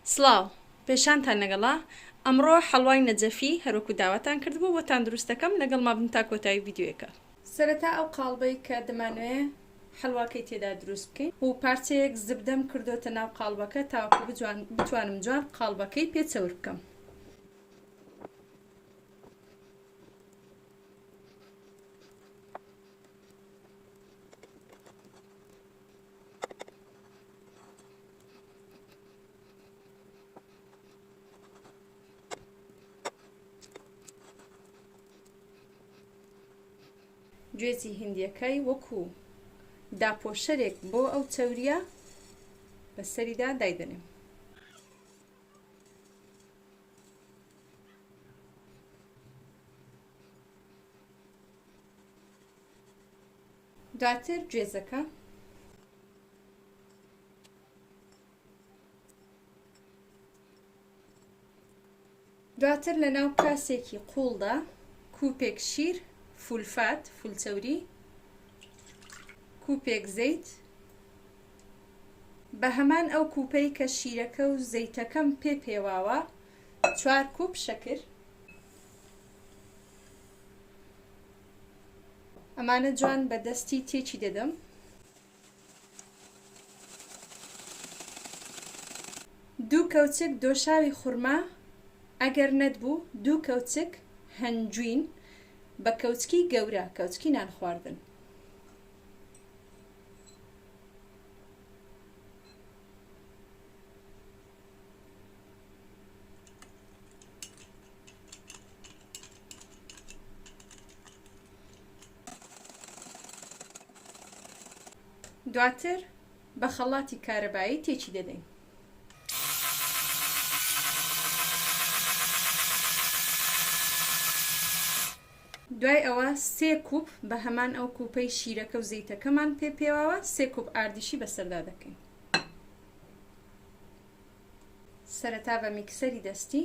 سڵاو. پێشانتان لەگەڵە. ئەمڕۆ حەڵوای نەجەفی هەروەکو داواتان کردبوو بۆتان دروست دەکەم لەگەڵما بن تا کۆتایی ڤیدیۆیەکە. سەرەتا ئەو قاڵبەی کە دەمانەوێ حەلواکەی تێدا دروست بکەین و پارچەیەک زبدەم کردۆتە ناو قاڵبەکە تاوەکو بجوان بتوانم جوان قاڵبەکەی پێ چەور بکەم. گوێزی هندیەکەی وەکو داپۆشەرێک بۆ ئەو چەوریە بەسەریدا دایدەنێم دواتر گوێزەکە دواتر لە ناو کاسێکی قوڵدا کوپێک شیر فولفات فولچەوری کوپێک زەیت بە هەمان ئەو کوپەی کە شیرەکە و زەیتەکەم پێ پێواوە چوار کوپ شەکر ئەمانە جوان بە دەستی تێکی دەدەم دوو کەوچک دۆشاوی خورما ئەگەر نەتبوو دوو کەوچک هەنجوین بە کەوچکی گەورە کەوچکی نان خواردن. دواتر بە خەڵاتی کارەبایی تێکی دەدەین. دوای ئەوە سێ کوپ بە هەمان ئەو کوپەی شیرەکە و زەیتەکەمان پێ پێواوە سێ کوپ ئاردیشی بەسەردا دەکەین سەرەتا بە میکسەری دەستی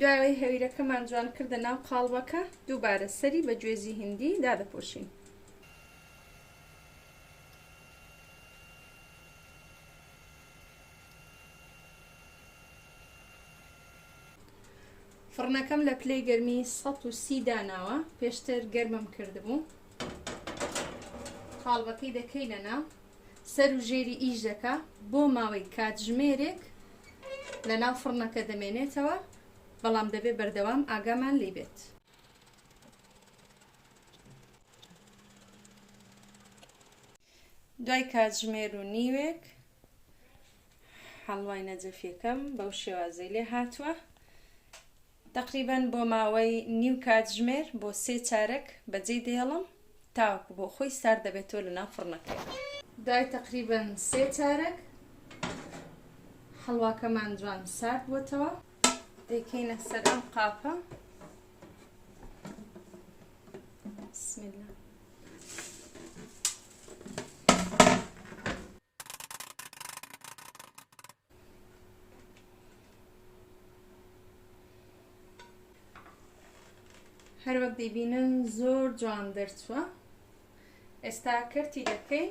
دوای ئەوەی هەویرەکەمان جوان کردە ناو قاڵبەکە دووبارە سەری بە گوێزی هندی دادەپۆشین فڕنەکەم لە پلەی گەرمی 130 داناوە پێشتر گەرمم کردبوو قاڵبەکەی دەکەینە ناو سەر و ژێری ئیش دەکا بۆ ماوەی کاتژمێرێک لە ناو فڕنەکە دەمێنێتەوە بەڵام دەبێ بەردەوام ئاگامان لی بێت. دوای کاتژمێر و نیوێک حەڵوای نەجەفیەکەم بەو شێوازەی لێ هاتوە تەقریبەن بۆ ماوەی نیو کاتژمێر بۆ سێ چارەک بەجێی دێڵم تاوەکو بۆ خۆی سارد دەبێتەوە لە ناو فڕنەکەی دوای تەقریبەن سێ چارەک حەڵواکەمان جوان سارد بۆتەوە دەیکەینە سەر ئەم قاپە بسم الله هەروەک دەیبینن زۆر جوان دەرچووە ئێستا کەرتی دەکەین